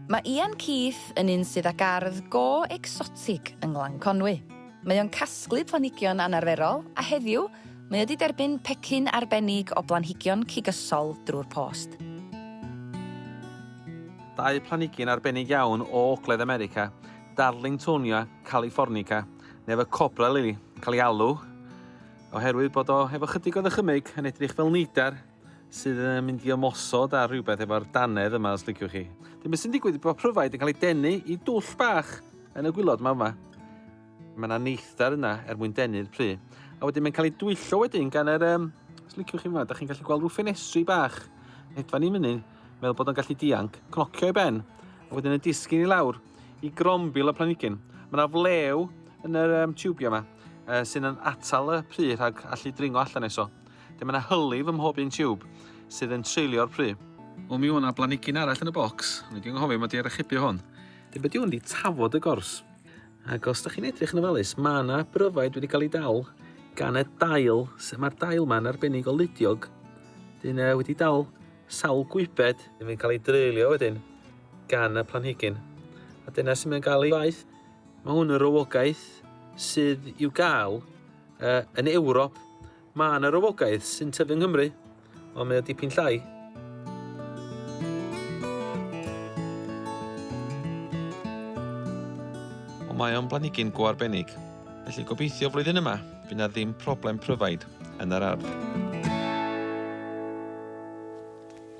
Mae Ian Keith yn un sydd â gardd go ecsotig yng Nglan Conwy. Mae o'n casglu planhigion anarferol a heddiw mae o 'di derbyn pecyn arbennig o blanhigion cigysol drwy'r post. Dau planhigyn arbennig iawn o Ogledd America, Darlingtonia californica, neu efo Cobra Lily, cael ei alw, oherwydd bod o efo chydig o ddychymyg yn edrych fel neidar, sydd yn mynd i ymosod ar rhywbeth efo'r danedd yma os liciwch chi. Dyn beth sy'n digwydd bod pryfaid yn cael ei denu i dwll bach yn y gwylod yma yma. Mae yna neithdar yna er mwyn denu'r pry. A wedyn mae'n cael ei dwyllo wedyn gan yr... Um, os liciwch chi yma, da chi'n gallu gweld rhyw ffenestri bach. Hedfa ni fyny, meddwl bod o'n gallu dianc, cnocio i ben. A wedyn y disgyn i lawr i grombil y planigyn. Mae yna flew yn yr um, tiwbio yma uh, sy'n atal y pry rhag allu dringo allan eso. Lle mae 'na hylif ym mhob un tiwb, sydd yn treulio'r pry. O mi o 'na blanigyn arall yn y bocs, o'n i 'di anghofio mod i ar archebu hwn. Dw be 'di hwn 'di tafod y gors. Ac os da chi'n edrych yn ofalus, mae 'na bryfaid wedi cael ei dal gan y dail, sef mae'r dail ma'n arbennig o ludiog. Dyn e wedi dal sawl gwybed. Dyn mae'n cael ei dreulio wedyn gan y planhigyn. A dyna sy'n mynd gael ei faith. Mae hwn yn rhywogaeth sydd i'w gael Uh, yn Ewrop, mae yna rywogaidd sy'n tyfu yng Nghymru, ond mae o dipyn llai. Ond mae o'n blanigyn go arbennig, felly gobeithio flwyddyn yma, bydd na ddim problem pryfaid yn yr ardd.